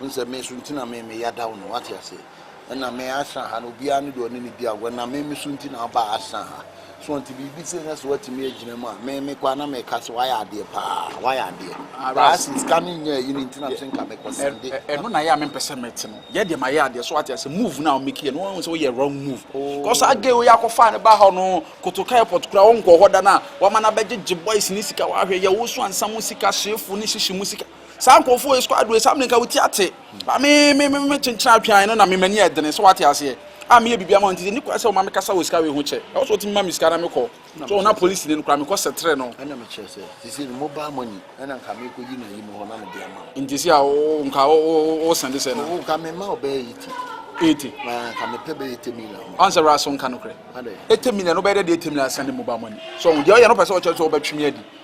Wohu sɛ me so nti na me meyadaw no, woate ase? Ɛna me asra ha no, obiara ne deɛ ɔne ne di agorɔ, na me me so nti na aba asra ha. So nti biribi sei na sɛ woatumi agyina mu a, me mekɔ a na meka sɛ woayɛ adeɛ paa, woayɛ adeɛ. Ah, Baa Ras. se sika no nyɛ ayi no nti na Yeah. mese nka mekɔ Ɛ- sɛnde. ɛ- ɛno na yɛ a mempɛ sɛ mete no yɛ deɛ mayɛ adeɛ so wate ase move no a womeki yɛ no woahu sɛ woyɛ wrong move kɔ saa Oh. geo yi akɔfaa no ba hɔ no kotoka airport kora wonkɔ hɔ da no a wama no abɛgyegye boys ne sika woahwɛ yɛ wo so ansa mu sika hyefo ne hyehye mu sika saa nkurɔfoɔ yɛ squad wei saa mmerɛnka wotia te ba me me me me kyenkyena atwean no na me mani ɛdene sɛ wate aseɛ a meyɛ biribi ama nti sɛ nikwa sɛ ɔma me kasa wɔ sika wei ho kyɛ ɛwɔ sɛ ɔtumi ma me sika na mekɔ so ɔna polisi ne no kora mekɔ sɛtere no ɛna mekyerɛ sɛ sisi no mobile money ɛna nka mekɔ yi na yi mu hɔ na mede ama nti si a nka wosɛnde sɛ no nka mema ɔbɛyɛ yi ti ete nka mepɛ bɛyɛ ete million ɔn sɛ wura so nka no korɛ ete million no bɛyɛ dɛ de ete million asɛnde mobile money so deɛ ɔyɛ no pɛ sɛ ɔkyerɛ sɛ ɔbɛtwe me adi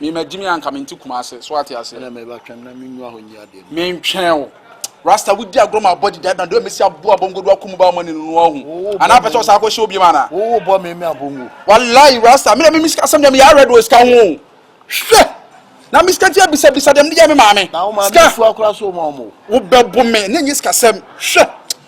Me ma gyimi a nka me nte kumase so ate aseɛ. Ɛna me ba twɛm na me nwa hɔ nyi adeɛ no. Me ntwɛn wo. Rasta wo di agorɔ ma abɔ didi adana deɛ mesi aboa bongo do akumu ba money no no ahu. Ana apɛ sɛ ɔsan akɔ hyɛ obiam ana. Wo wo bɔ me me abongo. Walayi Rasta me na me me sika asɛm deɛ me yɛ awrɛ do wɔ sika ho o. Hwɛ! Na me sika ti abisa bisa deɛ me de gya me maame. Na wo maame sika. Sua kora so ma ɔmo. Wo bɛ bo me na nyɛ sika sɛm. Hwɛ!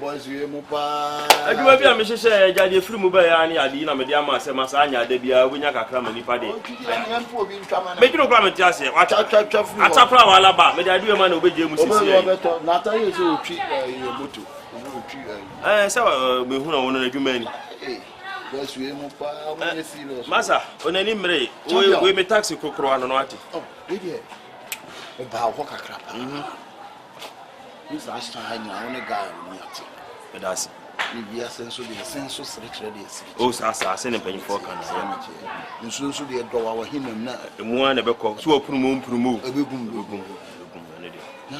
boys wie mu paa. adwuma bi a mehyehyɛ yɛ gya deɛ firi mu bɛyɛ ara ne ade yi na mede ama sɛ ma saa nyɛ ada biara wobɛnya kakra ma nipa deɛ medwene wo kora mete aseɛ ata kora waala ba mede adeɛ ma na wobɛgye mu sisi yɛ sɛ mehunu wo no adwuma ni masa onani mmere wei me taxi kokoro ano no ate oh, wobaa hɔ kakra paa mhm. This last time nyina wo ne guy wo ni ate. Ɛda ase. Ne bia sɛ nso deɛ sɛ nso sere kyerɛ deɛ sere kyerɛ. O saa saa sɛ ne mpanyinfoɔ ka na yɛ. Nso nso deɛ dɔ wa wahi nam na. Emu a na ɛbɛkɔ so wɔ punu mu mpunu mu. Ɛbɛgum ɛbɛgum ɛbɛgum ɛne deɛ. Na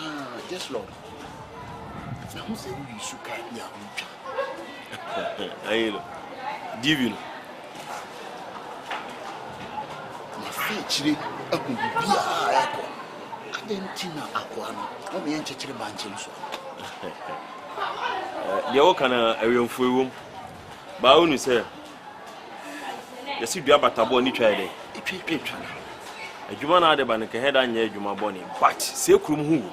just lord. Na ho sɛ woyi su kaa bi a wotwa. Ayɛ no. Divi no. Mafi akyire ahu biribiara a ɛrekɔ. Adɛn nti na akoa no, na ɔmeɛ nkyekyere bankye no so a? Deɛ woka no awɛmfoɔ wom. Baa wonu sɛ yɛsi dua bataboɔ ne twa yɛ dɛ. Etwa etwa etwa. Adwuma na ade ba no kɛhɛ da nyɛ adwuma bɔne but sɛ kurom ho wu.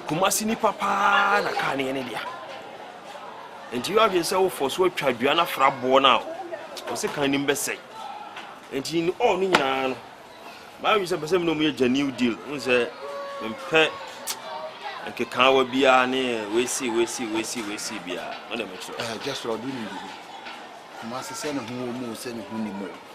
Kumasi nipa paa na kaa no yɛ ne dea nti yɛ adwene sɛ wofɔ so atwa dua no afra boɔ no a ɔsɛ kan nim bɛsɛe nti ne ɔɔ no nyinaa no maadwene sɛ mpɛ sɛ mene ɔmu yɛ gya new deal hu sɛ mempɛ nkekaawa biara ne wesi wesi wesi wesi biara ɔna mekyerɛ ɛɛ gyesrɛ ɔde nim bibi kumase sɛ ne ho wɔ mu sɛ ne ho nim o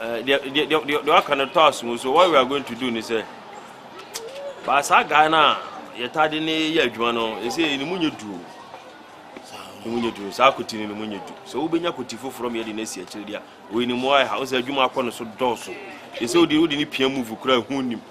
deɛ waka no tɔ asom so what we are going to do ne sɛ baa saa guy no a yɛtade ne yɛ adwuma no ɛsɛ ne mu nyɛ duo ne mu nyɛ duro saa koti no ne mu nyɛ duro sɛ wobɛnya koti foforɔ ma yɛde no asi akyire deɛ ɔyɛ ne mu ayɛ ha wo sɛ adwuma akɔ no so dɔɔso ɛsɛ wode wode ne pia move kora ɛho nim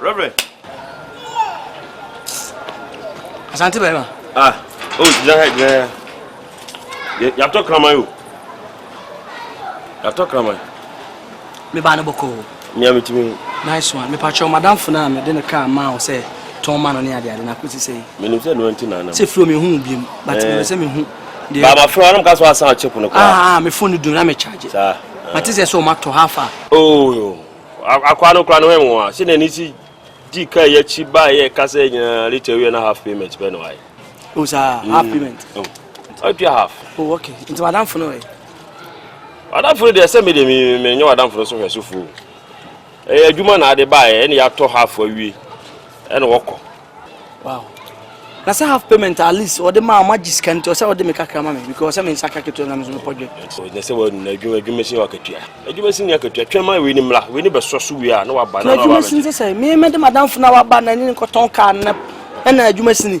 Reverend. Asante bɛrima. Ah, o oh, gyina ha gyina ha. Yàtọ̀ kraman o. Yàtọ̀ kraman. Mi ba ne bɔkɔ o. Ní a mi ti mi. Nice one. Mi pa kyɛw madam funa mi de ne kaa maa o sɛ tɔn ma no ne ade ade na ko ti sɛ yi. Mi nim sɛ nuwa nti na anam. Sɛ firi o mi hu bi mu but mi wɛ sɛ mi hu. Baaba firi o anam ka so asan ɔkye pono kura. Ah, ah mi fone dun na mi charge. Saa. Mate sɛ sɛ o ma tɔ ha fa. Oo. Akwaa no koraa no hwɛ nwowa sɛ n'ani si dii kaa yi akyi baa yɛ ka sɛ nyinaa late awie na half payment bɛ no ayɛ. O saa mm. half payment. Ɔtua half. O okay nti wadamfo no ɛ. Wadamfo no deɛ sɛ mi deɛ mi mi nyɛ wadamfo no so hwɛ so fo ɛyɛ adwuma na ade baa yɛ ɛna yɛatɔ half awie ɛna wɔkɔ. wow na sɛ half payment at least ɔde maa ɔma gye sika nti ɔsɛ ɔde me kakra ma me because sɛ me nsa ka ketewa na me nso mepɔ dwe na sɛ wɔnuna adwuma adwuma si wakatua adwuma si ni akatua twɛn ma wei ni mmra wei ni bɛsɔ so wie a na waba na adwuma si sɛ sɛ me mɛde madamfo na waba na ne nkɔtɔn kaa na ɛna adwuma si ni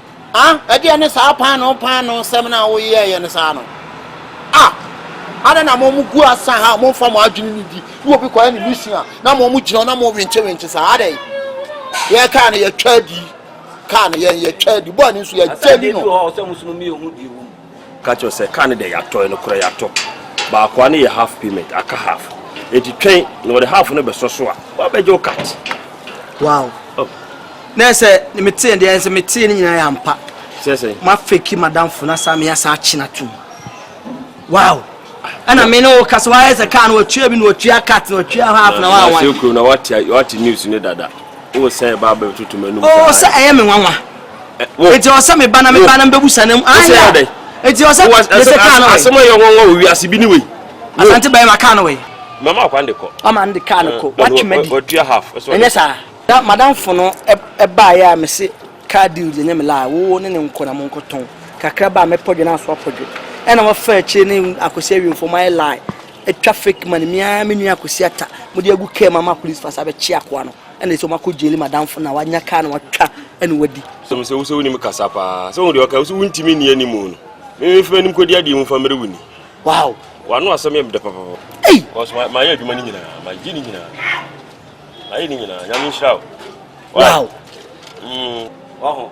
A, ɛdeɛ ne saa paanoo paanoo sɛm no a woyɛɛyɛ no saa no. A, adɛn na mo mo gu asa ha a mo nfa mo adwene ni di, na obi kɔyɛ ne mission a, na mo mo gyina na mo wenkye wenkye saa, adɛn? Yɛ kaa no yɛtwa adi, kaa no yɛn yɛtwa adi, bɔɔ ne nso yɛgya di no. Ka kyerɛ sɛ car no deɛ yɛatɔ, ɛno korɛ yɛatɔ. Baakoa no yɛ half payment, aka half. Enti twɛn na wɔde half no bɛsɔ so a, wɔabɛgye wo cut. Wow. Oh. Na yɛ sɛ metee deɛ ɛnsɛ metee no nyinaa yɛ ampa. Sɛ sɛ. Mafeki madamfo na saa meyɛ saa akye no atom. Wow. Ɛna me ne wo kasa wayɛ sɛ car no watua bi na watua cut na watua half na wawan. Wɔasɛ kurom na wate news no dada. Wosɛn ba bɛtoto m'anum saa. Oh, sɛ ɛyɛ me nwanwa. wo eti ɔsɛ me ba na me ba na mbebu sa na mu ɔsɛ yɛ ɔdɛ eti ɔsɛ ɛsɛ kaa no wɛ asɛm a yɛ wɔn wɔ owi ase bi ni wei asante bɛyɛ ma kaa no wɛ mama akwa de kɔ mama de kaa no kɔ watwi ma di watua half ɛnyɛ saa da madam fo no ɛbaa yɛ a me se kaa deal deɛ nyɛ me laa wo ne ne nkɔ na mo nkɔ tɔn kakra baa me pɔdwe na aso apɔdwe ɛna wɔfa akyire ne akwasi awiemfo mo ayɛ laa atwa fake money mia me nua akwasi ata mo de agu kaa mama police fasa bɛkye akoa no Ɛna sɛ ɔmakɔ jail madamfo na wanya kaa na watwa ɛna wadi. Sɛm sɛ wosɛ wonim kasa paa sɛ wohu deɛ ɔka wosɛ wontimi nni anim no memefa anim kɔdi adeɛ mu fa mmerɛ woni wow wano asɛm yɛ meda papapa ei because mayɛ adwuma no nyinaa magye ne nyinaa mayɛ ne nyinaa nyame nhyira wo wow mm. waho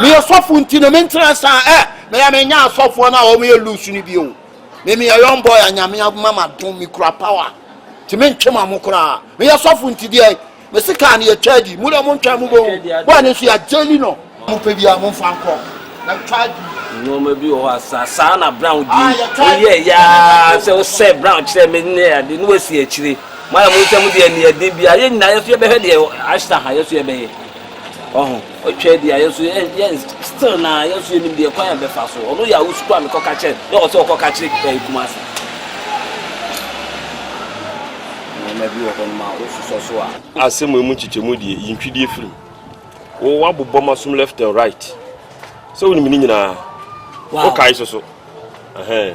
meyɛ sɔfo nti no mentra saa ɛ meyɛ menya asɔfoɔ no a wɔn yɛ loose no bio me meyɛ young boy a nyame ama madom mekura power nti mentwe ma mo koraa meyɛ sɔfo nti deɛ me se kaa no yɛtwa adi mu deɛ montwa mu bɛhu boa no nso yɛagyeli no mopɛ bi a momfa nkɔ na twa adi nneɛma bi wɔ hɔ a saa saa na brown di woyɛ yaa sɛ wosɛ brown kyerɛ me ne ade ne wasi akyire mo ayɛ mo nsɛm deɛ ne ɛden bi a yɛ nyinaa yɛ so yɛbɛhwɛ deɛ ashta ha yɛ so yɛbɛyɛ Wahu? Otwa adi a, yɛn nso yɛn, yɛn, still na yɛn nso yɛnim deɛ kwan a yɛbɛfa so. Ɔno yɛ a wosukuu a mekɔka kyerɛ, na ɔwɔ sɛ ɔkɔka kyerɛ ɛɛ Kumasi. Nneɛma bi wɔ hɔ nom a wososɔ so a. Asɛm wei mu nkyekyɛmu deɛ, yi ntwidie firi mu. Wo, woabobɔ m'asom left and right. Sɛ wonim ne nyinaa. Wow. Wokae so so. Ɛhɛn.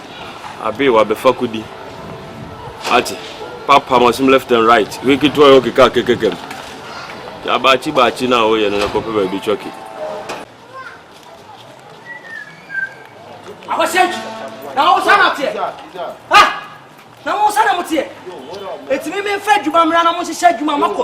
Abe wa be fa kodi. Ate. Pa pa mo sim left and right. Wiki to yo kika kekekem. Ya ba chi ba chi na o ye no ko pe ba bi choki. Awo shenki. Na o sana te. Ha. na mo nsa na mo teɛ ɛtumi me mfa adwuma mmra na mo nhyehyɛ adwuma makɔ